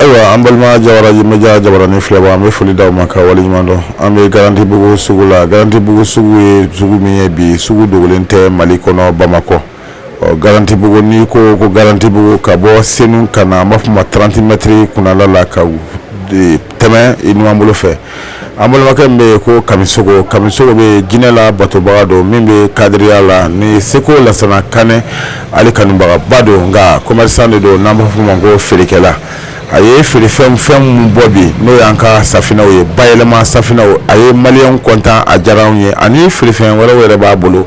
Ayiwa an balima jawara media jabaranin filɛbaa an bɛ foli da aw ma ka wale ɲuman dɔn an bɛ garantibugu sugu la garantibugu sugu ye sugu min ye bi sugu dogolen tɛ mali kɔnɔ bamakɔ ɔ garantibugu n'i ko ko garantibugu ka bɔ senu ka na an b'a fɔ ma 30 mètres kunnala la ka tɛmɛ i numanbolo fɛ an balimakɛ min bɛ yen ko kamisogo kamisogo bɛ jinɛ la batobaga don min bɛ kadiriya la ni seko lasana kanɛ ale kanubagaba don nka commerçant de don n'an b'a fɔ ma ko feerekɛla a ye feerefɛn fɛn minnu bɔ bi n'o y'an ka safinɛw ye bayɛlɛma safinɛw a ye maliyɛnw kɔntan a diyara anw ye ani feerefɛn wɛrɛw yɛrɛ b'a bolo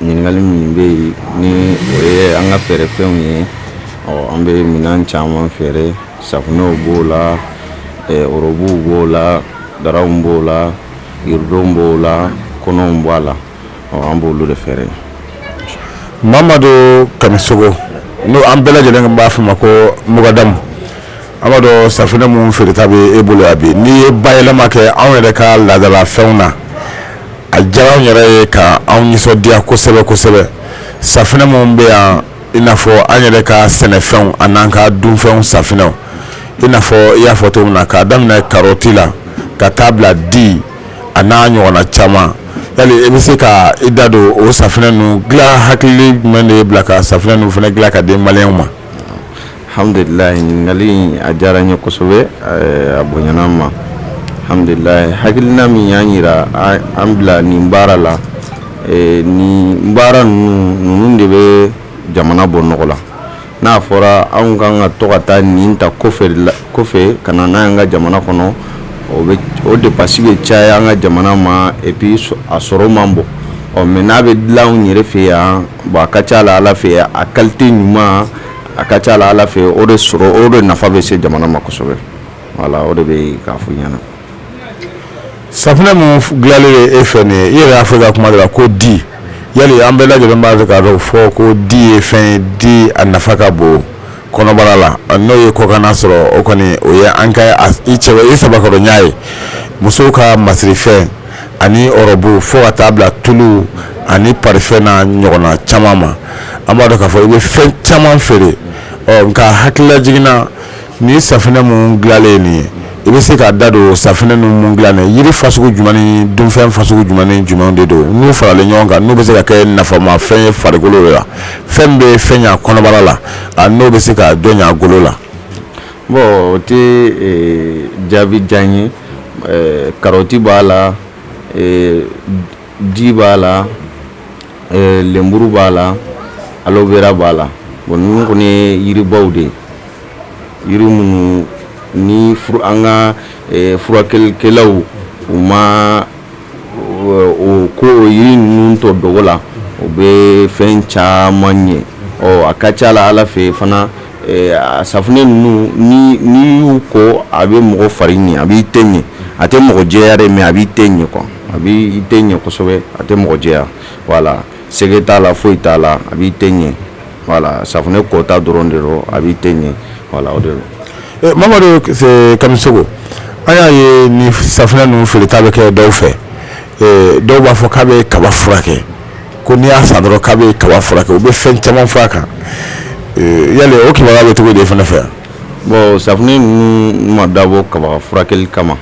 ɲininkali min bɛ yen ni o ye an ka feerefɛnw ye an bɛ minɛn caman feere safunɛw b'o la ɔrɔbuw b'o la daraw b'o la iridow b'o la kɔnɔw b'a la an b'olu de feere mamadu kamisogo n'o an bɛɛ lajɛlen b'a fɔ ma ko mugadamu An b'a dɔn safinɛ minnu feereta bɛ e bolo yan bi n'i ye bayɛlɛma kɛ anw yɛrɛ ka laadala fɛnw na a diyara anw yɛrɛ ye ka anw nisɔndiya kosɛbɛ kosɛbɛ safinɛ minnu bɛ yan i n'a fɔ an yɛrɛ ka sɛnɛfɛnw ani an ka dunfɛnw safinɛw i n'a fɔ i y'a fɔ cogo min na k'a daminɛ karɔti la ka taa bila di a n'a ɲɔgɔnna caman yali i bɛ se ka i da don o safinɛ ninnu dilan hakili jumɛn de y'i bila ka safunɛ ninnu fana dilan ka di maliyɛnw ma hamdulila ɲininkali in a diyara n ye kosɛbɛ eh, a bonyana n ma hamdulila hakilina min y'an yira an bila nin baara la eh, nin baara ninnu ninnu de bɛ jamana bɔ nɔgɔ la n'a fɔra anw ka kan ka to ka taa nin ta kɔfɛ ka na n'a y'an ka jamana kɔnɔ o bɛ o depansi bɛ caya an ka jamana ma epi a sɔrɔ man bon ɔ mɛ n'a bɛ dilan anw yɛrɛ fɛ yan bon a ka ca la ala fɛ a kalite ɲuman a ka ca la ala fɛ o de sɔrɔ o de nafa bɛ se jamana ma kosɛbɛ wala o de bɛ k'a fɔ ɲɛna safunɛ min dilanlen ye e fɛ nin ye i yɛrɛ y'a fɔ i ka kuma de la ko di yali an bɛɛ lajɛlen b'a fɛ k'a dɔn fɔ ko di ye fɛn ye di a nafa ka bon kɔnɔbara la n'o ye kɔkanna sɔrɔ o kɔni o ye an ka i cɛ i sɛbɛkɔrɔ ɲa ye musow ka masirifɛn ani ɔrɔbu fo ka taa bila tulu ani parifɛn n'a ɲɔgɔnna caman ma an b'a dɔn k'a fɔ i bɛ fɛn caman feere nka hakililajigin na ni safunɛ minnu dilanlen nin ye i bɛ se k'i da don safunɛ ninnu dilan yiri fasugu jumɛn ni dunfɛn fasugu jumɛn ni jumɛn de don n'u faralen ɲɔgɔn kan n'u bɛ se ka kɛ nafama fɛn ye farikolo la fɛn bɛ fɛn ɲa kɔnɔbara la n'o bɛ se ka dɔ ɲa golo la Bon o tɛ jaabi jan ye karɔti b'a la di b'a la lenburu b'a la aloe vera b'a la bon ninnu kɔni ye yiribaw de ye yiri minnu ni an ka furakɛlikɛlaw u ma o ko yiri ninnu to dogo la o bɛ fɛn caman ɲɛ ɔ a ka ca la ala fɛ fana safunɛ ninnu n'i y'u ko a bɛ mɔgɔ fari ɲɛ a b'i teint ɲɛ a tɛ mɔgɔ jɛya dɛ mais a b'i teint ɲɛ quoi a bɛ i teint ɲɛ kosɛbɛ a tɛ mɔgɔ jɛya voilà sɛgɛ t'a la foyi t'a la a b'i teint ɲɛ voilà safunɛ kota dɔrɔn de don a b'i teint ɲɛ voilà o Mamadu Kamisɔgɔ an y'a ye ni safunɛ ninnu feereta bɛ kɛ dɔw fɛ dɔw b'a fɔ k'a bɛ kaba furakɛ ko n'i y'a san dɔrɔn k'a bɛ kaba furakɛ u bɛ fɛn caman fɔ a kan yali o kibaruya bɛ cogo di i fana fɛ yan bon safunɛ ninnu ma dabɔ kaba furakɛli kama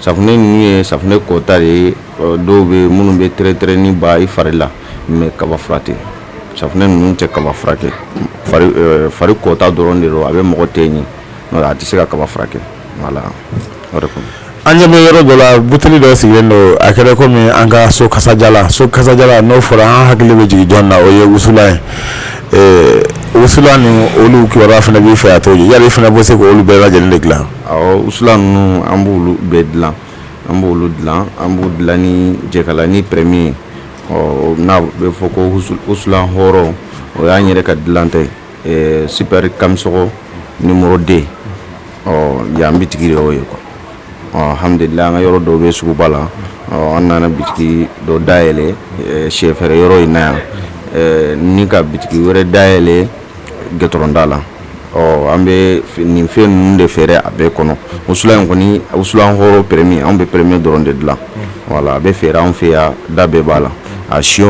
safunɛ ninnu ye safunɛ kota de ye dɔw bɛ minnu bɛ tɛrɛtɛrɛnin ba i fari la mais kaba fura tɛ safunɛ ninnu tɛ kaba furakɛ fari kota dɔrɔn de don a bɛ mɔgɔ teint ɲɛ a tɛ se ka kaba furakɛ voilà an ɲɛ bɛ yɔrɔ dɔ la buteli dɔ sigilen don a kɛra kɔmi an ka so kasajala so kasajala n'o fɔra an hakili bɛ jigin jɔn na o ye wusulan ye wusulan ninnu olu kibaruya fana b'i fɛ a to yali i fana bɛ se k'olu bɛɛ lajɛlen de dilan wusulan ninnu an b'olu bɛɛ dilan an b'u dilan an b'u dilan ni jɛkalanin premier ye ɔ n'a bɛ fɔ ko wusulan hɔrɔn o y'an yɛrɛ ka dilanta ye super Kamisɔgɔ numéro deux ɔ yan bitigi de y'o ye quoi ɔ alhamdulilahi an ka yɔrɔ dɔw bɛ suguba la ɔ an nana bitigi dɔ dayɛlɛ sɛfɛrɛ yɔrɔ in na yan ni ka bitigi wɛrɛ dayɛlɛ gɛtɔrɔnda la ɔ an bɛ nin fɛn ninnu de feere a bɛɛ kɔnɔ wusulan in kɔni wusulan hɔrɔn premier an bɛ premier dɔrɔn de dilan voilà a bɛ feere an fɛ yan da bɛɛ b'a la a siyo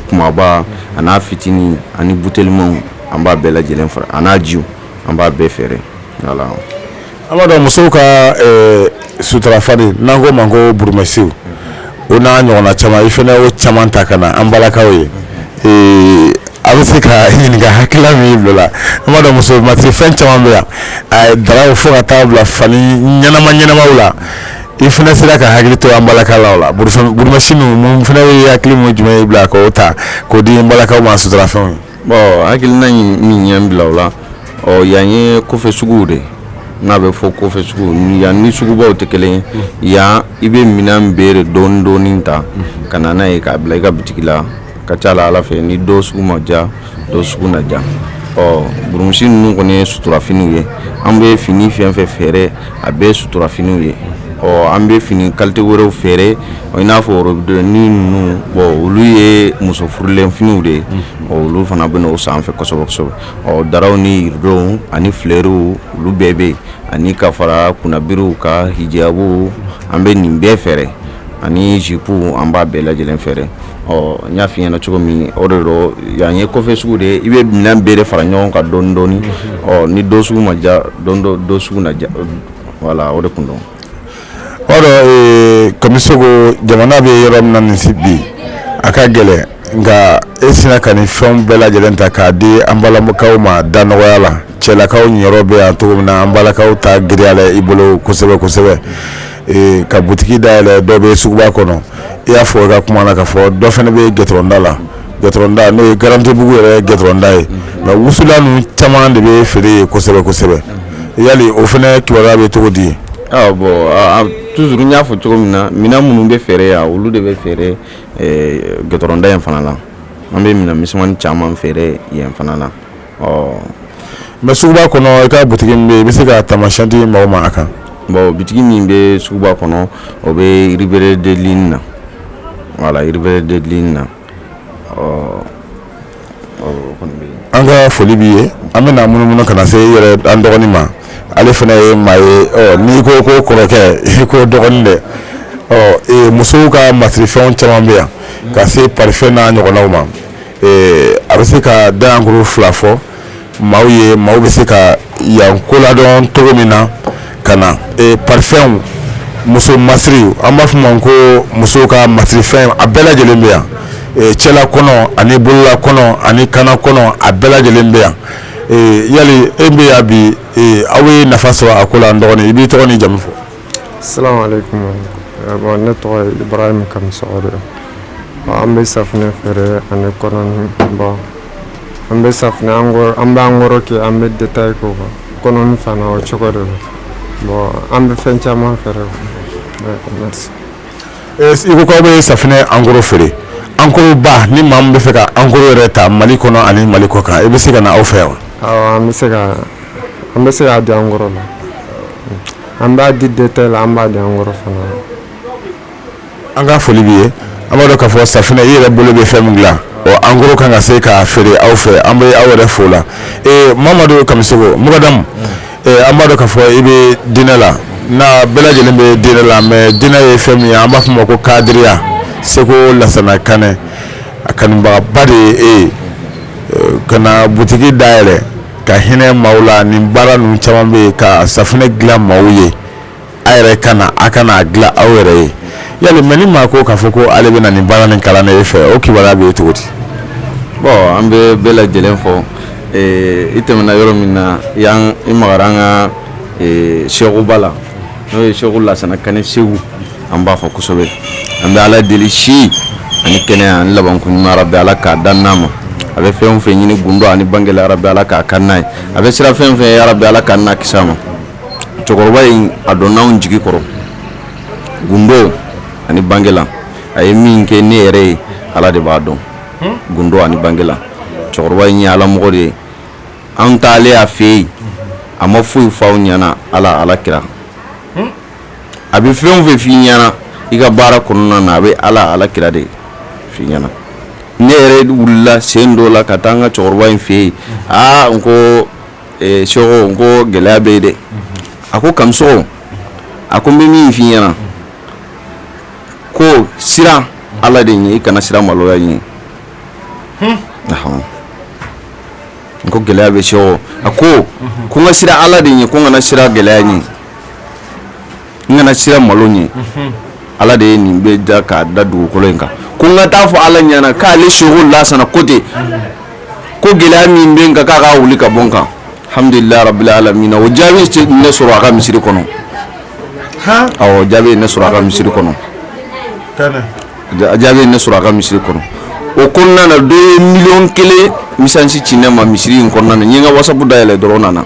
kumaba a n'a fitinin ani butelimaw an b'a bɛɛ lajɛlen fara a n'a ji an b'a bɛɛ feere voilà An b'a dɔn musow ka suturafani n'an ko ma ko burumusiw o n'a ɲɔgɔnna caman i fana y'o caman ta ka na an balakaw ye a bɛ se ka ɲininka hakilila min b'i la an b'a dɔn muso masirifɛn caman bɛ yan daraw fo ka taa bila fani ɲɛnama ɲɛnama la i fana sera ka hakili to an balakaw la fana ye hakilina jumɛn b'i la k'o ta k'o di an balakaw ma suturafɛnw ye bɔn hakilina min ye n bila o la ɔ yan ye kɔfɛ sugu de n'a bɛ fɔ kɔfɛ sugu yan ni sugubaw tɛ kelen ye yan i bɛ minɛn bɛɛ dɔɔni dɔɔni ta ka na n'a ye k'a bila i ka bitigi la ka ca la ala fɛ ni dɔ sugu ma ja dɔ sugu na ja ɔ burumusi ninnu kɔni ye suturafiniw ye an bɛ fini fɛn fɛn feere a bɛɛ ye suturafiniw ye ɔ an bɛ fini kalite wɛrɛw feere i n'a fɔ worobden ni ninnu bɔn olu ye muso furulenfiniw de ye mhm. olu fana bɛ o sanfɛ kosɛbɛ kosɛbɛ ɔ daraw ni iridow ani filɛriw olu bɛɛ bɛ yen ani ka fara kunnabiriw ka hijabu an bɛ nin bɛɛ feere ani zipu an b'a bɛɛ lajɛ lajɛlen feere ɔ n y'a f'i ɲɛ na cogo min o de don yan ye kɔfɛ sugu de ye i bɛ minɛn bɛɛ de fara ɲɔgɔn kan dɔɔni dɔɔni mhm. ɔ ni dɔ sugu ma ja dɔ sugu na ja wala o de kun don O kamisɔgɔ jamana bɛ yɔrɔ min na nin si bi a ka gɛlɛn nka e sera ka nin fɛn bɛɛ lajɛlen ta k'a di an balakaw ma da nɔgɔya la cɛlakaw niyɔrɔ bɛ yan cogo min na an balakaw ta giriyalen i bolo kosɛbɛ kosɛbɛ ka butigi da yɛlɛ dɔ bɛ suguba kɔnɔ i y'a fɔ i ka kuma na ka fɔ dɔ fana bɛ gitɔrɔnda la gitɔrɔnda n'o ye garantibugu yɛrɛ gitɔrɔnda ye nka wusulan ninnu caman de bɛ feere yen kosɛbɛ kosɛbɛ yali o fana kibaruya bɛ cogo di yen bɔn tuzuru n y'a fɔ cogo min na minɛn minnu bɛ feere yan olu de bɛ feere gitɔrɔnda in fana la an bɛ minɛn misɛnmannin caman feere yen fana la mɛ suguba kɔnɔ i ka butigi min bɛ yen i bɛ se ka taamasiyɛn di mɔgɔw ma a kan bɔn bitigi min bɛ suguba kɔnɔ o bɛ rue Brière de l'Isle na wala rue Brière de l'Isle na ɔ an ka foli b'i ye an bɛna munumunu ka na se yɛrɛ an dɔgɔnin ma ale fana ye maa ye n'i ko ko kɔrɔkɛ i ko dɔgɔnin dɛ ɔ musow ka masirifɛn caman bɛ yan ka se parifɛn n'a ɲɔgɔnnaw ma a bɛ se ka daɲɛkuru fila fɔ maaw ye maaw bɛ se ka yan ko ladɔn cogo min na ka na parifɛnw muso masiri an b'a f'a ma ko musow ka masirifɛn a bɛɛ lajɛlen bɛ yan cɛla kɔnɔ ani bolola kɔnɔ ani kanna kɔnɔ a bɛɛ lajɛlen bɛ yan yali e bɛ yan bi aw ye nafa sɔrɔ a ko la n dɔgɔnin i b'i tɔgɔ ni jamu fɔ asalaamu alaykum bɔn ne tɔgɔ ye ibrahima kamisɔgɔ de an bɛ safunɛ feere ani kɔnɔni bɔn an bɛ safunɛ angoro an b'angoro kɛ an bɛ detaye k'o kan kɔnɔni fana o cogo de don bɔn an bɛ fɛn caman feere merci i ko k'aw bɛ safunɛ angoro feere angoro ba ni maa min bɛ fɛ ka angoro yɛrɛ ta mali kɔnɔ ani mali kɔ kan i bɛ se ka na aw fɛ yan awɔ an bɛ se ka an bɛ se k'a di angoro la An b'a di détail la an b'a di en gros fana na. An ka foli b'i ye, an b'a dɔn k'a fɔ safinɛ i yɛrɛ bolo bɛ fɛn min dilan o en gros k'an ka se k'a feere aw fɛ an bɛ aw yɛrɛ fo o la ee Mamadu Kamisɔgɔ mukadamu an b'a dɔn k'a fɔ i bɛ diinɛ la n'a bɛɛ lajɛlen bɛ diinɛ la mais diinɛ ye fɛn min ye an b'a fɔ o ma ko kadiriya seko Lasana Kanɛ a kanubagaba de ye e ye ka na butigi dayɛlɛ ka hinɛ maaw la nin baara ninnu caman bɛ yen ka safunɛ dilan maaw ye a yɛrɛ ka na a ka n'a dilan aw yɛrɛ ye yali mais ni maa ko k'a fɔ ko ale bɛ na nin baara nin kalan e fɛ o kibaruya bɛ ye cogo di bon an bɛ bɛɛ lajɛlen fo i tɛmɛna yɔrɔ min na yan i magara an ka sekoba la n'o ye seko lasana kanɛ segu an b'a fo kosɛbɛ an bɛ ala deli si ani kɛnɛya ani labanko ɲuman arabi ala k'a d'an n'a ma a bɛ fɛn o fɛn ɲini gundo ani bangela arabi ala k'a k'an n'a ye a bɛ siran fɛn o fɛn ɲɛ arabi ala k'an n'a kis'a ma cɛkɔrɔba in a donna anw jigi kɔrɔ gundo ani bangela a ye min kɛ ne yɛrɛ ye ala de b'a dɔn gundo ani bangela cɛkɔrɔba in ye ala mɔgɔ de ye an taalen a fɛ yen a ma foyi fɔ an ɲɛna ala ala kira a bɛ fɛn o fɛn f'i ɲɛna i ka baara kɔnɔna na a bɛ ala ala kira de f'i ɲɛna ne yɛrɛ wulila sen dɔ la ka taa an ka cɛkɔrɔba in fɛ yen aa n ko eh, seko n ko gɛlɛya bɛ yen dɛ a ko kamisɔgɔ a ko n bɛ min f'i ɲɛna ko siran ala de ɲɛ i kana siran maloya ɲɛ hmm. n ko gɛlɛya bɛ seko a ko ko n ka siran ala de ɲɛ ko n kana siran gɛlɛya ɲɛ n kana siran malo ɲɛ ala de ye nin bɛɛ da k'a da dugukolo in kan ko n ka taa fɔ ala ɲɛna k'ale seko lasana ko ten ko gɛlɛya min bɛ n kan k'a ka wuli ka bɔ n kan alhamdulilayi rabbil alamin o jaabi ne sɔrɔ a ka misiri kɔnɔ awɔ jaabi ne sɔrɔ a ka misiri kɔnɔ jaabi ne sɔrɔ a ka misiri kɔnɔ o kɔnɔna na dɔ ye miliyɔn kelen mesazi ci ne ma misiri in kɔnɔna na n ye n ka wasapu dayɛlɛ dɔrɔn nana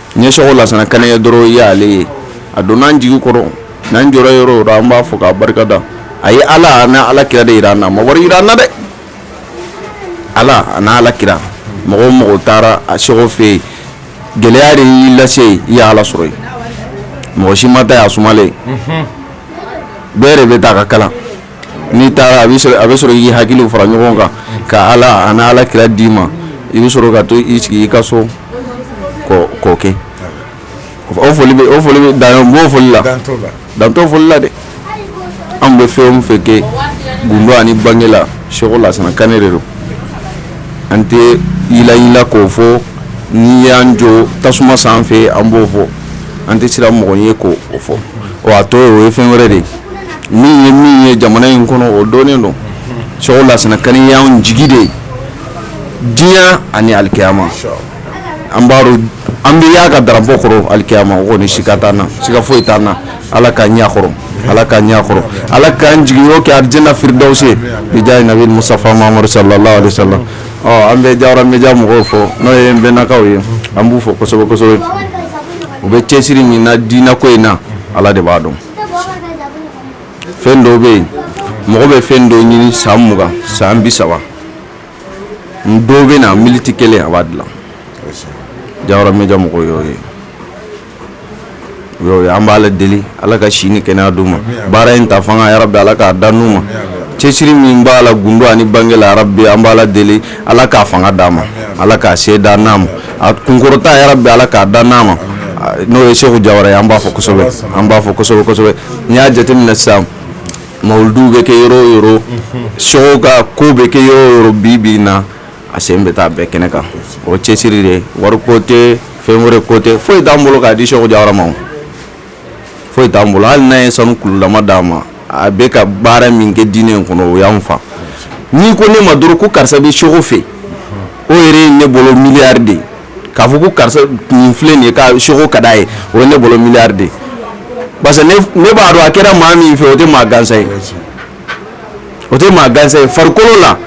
n ye seko lasana kanɛ ye dɔrɔn i y'ale ye a donna an jigi kɔrɔ n'an jɔra yɔrɔ o yɔrɔ an b'a fɔ k'a barika da a ye ala n'a ala kira de jira an na a ma wari jira an na dɛ ala n'a ala kira mɔgɔ o mɔgɔ taara a seko fɛ yen gɛlɛya de y'i lase yen i y'ala sɔrɔ yen mɔgɔ si ma taa yen a sumalen bɛɛ de bɛ taa a ka kalan n'i taara a bɛ sɔrɔ y'i hakili fara ɲɔgɔn kan ka ala ani ala kira d'i ma i bɛ sɔrɔ ka to i sigi i ka so k'o kɛ o foli o foli bɛ dan b'o foli la dan t'o foli la dɛ an bɛ fɛn o fɛn kɛ gundo ani bange la seko lasana kane de don an tɛ yilayila k'o fɔ n'i y'an jɔ tasuma sanfɛ an b'o fɔ an tɛ siran mɔgɔ ɲɛ k'o fɔ o a tɔ ye o ye fɛn wɛrɛ de ye min ye min ye jamana in kɔnɔ o dɔnnen don seko lasana kane y'an jigi de ye diɲɛ ani alikiyama an b'a dɔn an bɛ y'a ka darapo kɔrɔ alikiyama o kɔni sika t'an na sika foyi t'an na ala ka ɲɛ kɔrɔ ala ka ɲɛ kɔrɔ ala k'an jiginyɔrɔ kɛ arijina firidawusi bi jaahi nabi mustafa muhamad sallallahu alaihi wa sallam ɔ an bɛ jawara media mɔgɔw fo n'o ye n bɛnnakaw ye an b'u fo kosɛbɛ kosɛbɛ u bɛ cɛsiri min na diinako in na ala de b'a dɔn fɛn dɔw bɛ yen mɔgɔ bɛ fɛn dɔw ɲini san mugan san bisaba n dɔw bɛ na militi kelen a b'a dilan jawara media mɔgɔw y'o ye o ye an b'ala deli ala ka si ni kɛnɛya d'u ma baara in ta fanga yarabi ala k'a d'an n'u ma cɛsiri min b'a la gundo ani bange la yarabi an b'ala deli ala k'a fanga d'a ma ala ka se d'an n'a ma a kunkɔrɔta yarabi ala k'a d'an n'a ma n'o ye seku jawara ye an b'a fo kosɛbɛ an b'a fo kosɛbɛ kosɛbɛ n'i y'a jateminɛ sisan mawuluduw bɛ kɛ yɔrɔ o yɔrɔ seko ka ko bɛ kɛ yɔrɔ o yɔrɔ bi bi in na a sen bɛ taa bɛɛ kɛnɛ kan o cɛsiri de ye wari ko tɛ fɛn wɛrɛ ko tɛ foyi t'an bolo k'a di seku jawara ma foyi t'an bolo hali n'a ye sanu kululama d'a ma a bɛ ka baara min kɛ diinɛ in kɔnɔ o y'an fa n'i ko ne ma dɔrɔn ko karisa bɛ seko fɛ o yɛrɛ ye ne bolo miliyari de ye k'a fɔ ko karisa nin filɛ nin ye ka seko ka d'a ye o ye ne bolo miliyari de ye parce que ne b'a dɔn a kɛra maa min fɛ o tɛ maa gansan ye o tɛ maa gansan ye farikolo la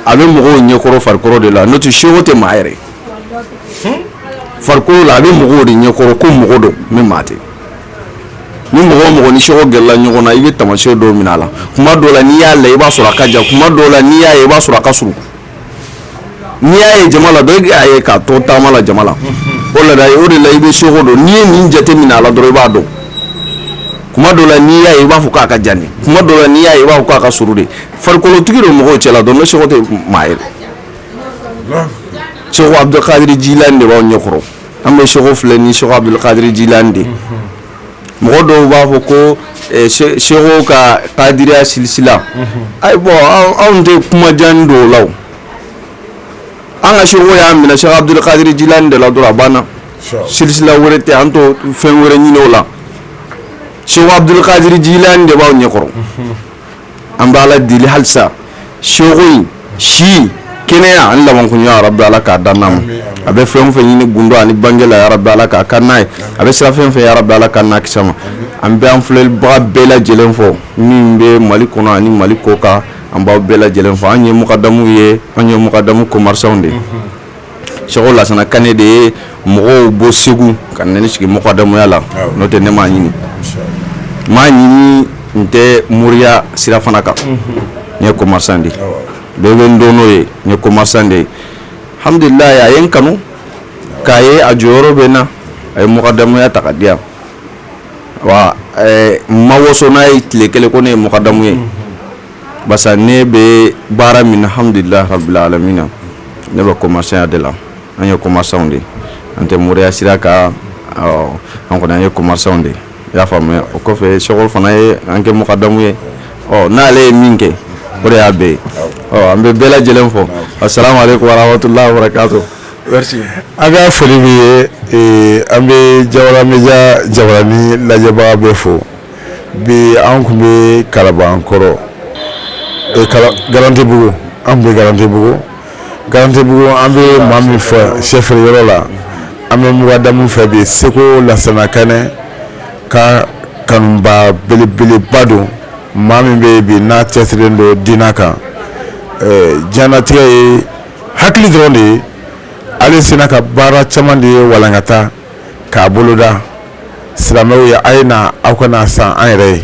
a bɛ mɔgɔw ɲɛkɔrɔ farikolo de la n'o tɛ seko tɛ maa yɛrɛ ye hmm? farikolo la a bɛ mɔgɔw de ɲɛkɔrɔ ko mɔgɔ don mais maa tɛ ni mɔgɔ o mɔgɔ ni seko gɛrɛla ɲɔgɔn na i bɛ tamasiyɛn dɔw minɛ a la kuma dɔw la n'i y'a lajɛ i b'a sɔrɔ a ka jan kuma dɔw la n'i y'a ye i b'a sɔrɔ a ka surun n'i y'a ye jama la dɔ y'a ye k'a to taama la jama la o la o de la i bɛ seko dɔn n'i ye nin jate minɛ a la dɔrɔn i b'a dɔn kuma dɔw la n'i y'a ye i b'a fɔ k'a ka jan de kuma dɔw la n'i y'a ye i b'a fɔ k'a ka surun de farikolo tigi don mɔgɔw cɛla dɔrɔn mais seko tɛ maa ye seko abdulkadiri jilani de b'aw ɲɛkɔrɔ an bɛ seko filɛ ni seko abdulkadiri jilani de mɔgɔ dɔw b'a fɔ ko eh, seko ka kadiriya silisila ayi bɔn anw tɛ kuma jan dɔn o la an ka seko y'a minɛ seko abdulkadiri jilani de la dɔrɔn a banna silisila wɛrɛ tɛ an t'o fɛn wɛrɛ ɲini o la seko abdulkadiri jilani de b'aw ɲɛkɔrɔ an bɛ ala deli halisa seko in si kɛnɛya ani labankoɲuman ya rabi ala k'a d'an n'a ma a bɛ fɛn fɛn ɲini gundo ani bange la ya rabi ala k'a k'an n'a ye a bɛ siran fɛn fɛn ya rabi ala k'an n'a kis'a ma an bɛ an filɛlibaga bɛɛ lajɛlen fo min bɛ mali kɔnɔ ani mali kɔ kan an b'aw bɛɛ lajɛlen fo an ye mukadamu ye an ye mukadamu commerçants de ye seko lasana kanɛ de ye mɔgɔw bɔ segu ka na ne sigi mukadamuya la n'o tɛ ne m'a ɲini m'a ɲini n tɛ moriya sira fana kan n ye commerçant de bɛɛ bɛ n dɔn n'o ye n ye commerçant de ye hamidulilayi a ye n kanu k'a ye a jɔyɔrɔ bɛ n na a ye mukadamuya ta k'a di yan wa n ma waso n'a ye tile kelen ko ne ye mukadamu ye Basa ne bɛ baara min na hamidulila rabili alamina ne bɛ commerçantya de la an ye commerçants de an tɛ moriya sira kan an kɔni an ye commerçants de i y'a faamuya o kɔfɛ seko fana ye an kɛ mukadamu ye ɔ n'ale ye min kɛ o de y'a bɛɛ ye ɔ an bɛ bɛɛ lajɛlen fo assalamu alaikum warahmatullahi wabarakatuh merci an ka foli b'i ye an bɛ jawara media jabaranin lajɛbaga bɛɛ fo Bi an kun bɛ kalabankɔrɔ garantibugu an bɛ garantibugu garantibugu an bɛ maa min fɛ sɛfe yɔrɔ la an bɛ mukadamu fɛ bi seko lasana kanɛ ka kanubaa belebeleba don maa min bɛ bi n'a cɛsirilen don diinɛ kan diɲɛlatigɛ ye hakili dɔrɔn de ye ale sera ka baara caman de ye walankata k'a boloda silamɛw ye a ye na aw ka n'a san an yɛrɛ ye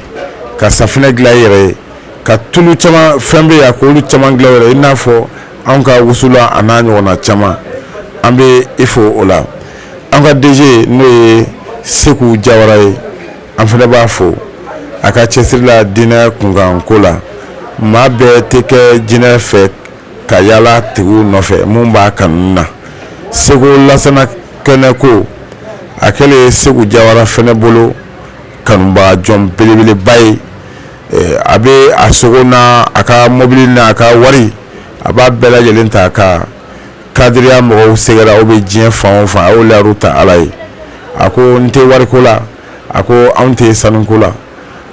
ka safinɛ dilan i yɛrɛ ye ka tulu caman fɛn bɛ yan k'olu caman dilan yɛrɛ i n'a fɔ anw ka wusula a n'a ɲɔgɔnna caman an bɛ i fo o la an ka DG n'o ye Seku Jawara ye an fana b'a fo a ka cɛsiri la diinɛ kunkanko la maa bɛɛ tɛ kɛ diinɛ fɛ ka yaala a tigi nɔfɛ mun b'a kanu na seko lasana kanɛ ko a kɛlen seku jawara fana bolo kanubaga jɔn belebeleba ye a bɛ a sogo n'a ka mɔbili n'a ka wari a b'a bɛɛ lajɛlen ta ka kadiriya mɔgɔw sɛgɛrɛ aw bɛ diɲɛ fan fan yaala ala ye a ko n tɛ wariko la a ko anw tɛ sanuko la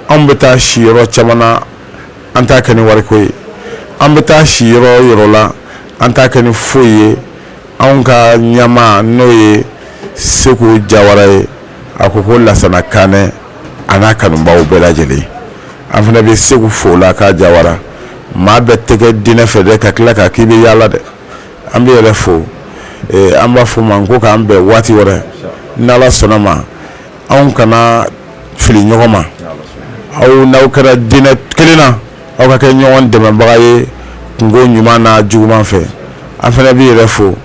anw bɛ taa si yɔrɔ caman na an t'a kɛ ni wariko ye an bɛ taa si yɔrɔ yɔrɔ la an t'a kɛ ni foyi ye anw ka ɲɛmaa n'o ye seku jawara ye a ko ko lasana kanɛ a n'a kanubaaw bɛɛ lajɛlen an fana bɛ seku fo la ka jawara maa bɛɛ tɛ kɛ diinɛ fɛ dɛ ka tila ka k'i bɛ yaala dɛ an bɛ yɛrɛ fo an b'a fɔ ma ko k'an bɛn waati wɛrɛ n'ala sɔnna ma aw kana fili ɲɔgɔn ma aw n'aw kɛra diinɛ kelen na aw ka kɛ ɲɔgɔn dɛmɛbaga ye kunko ɲuman n'a juguman fɛ an fana b'i yɛrɛ fo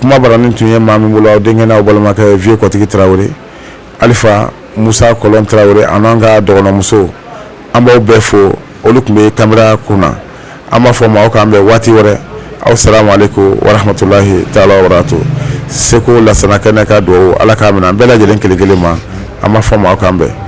kumabarani tun ye maa min bolo aw denkɛ n'aw balimakɛ vieux kɔtigi tarawele alifa musa kɔlɔn tarawele an'an ka dɔgɔnɔmuso an b'aw bɛɛ fo olu tun bɛ kamera kun na an b'a fɔ maaw k'an bɛn waati wɛrɛ aw salamu aleyikumu waramatulayi taala wabarakatu seku lasana kanɛ ka dugawu ala k'a minɛ an bɛɛ lajɛlen kelen kelen ma an b'a fɔ maaw k'an bɛn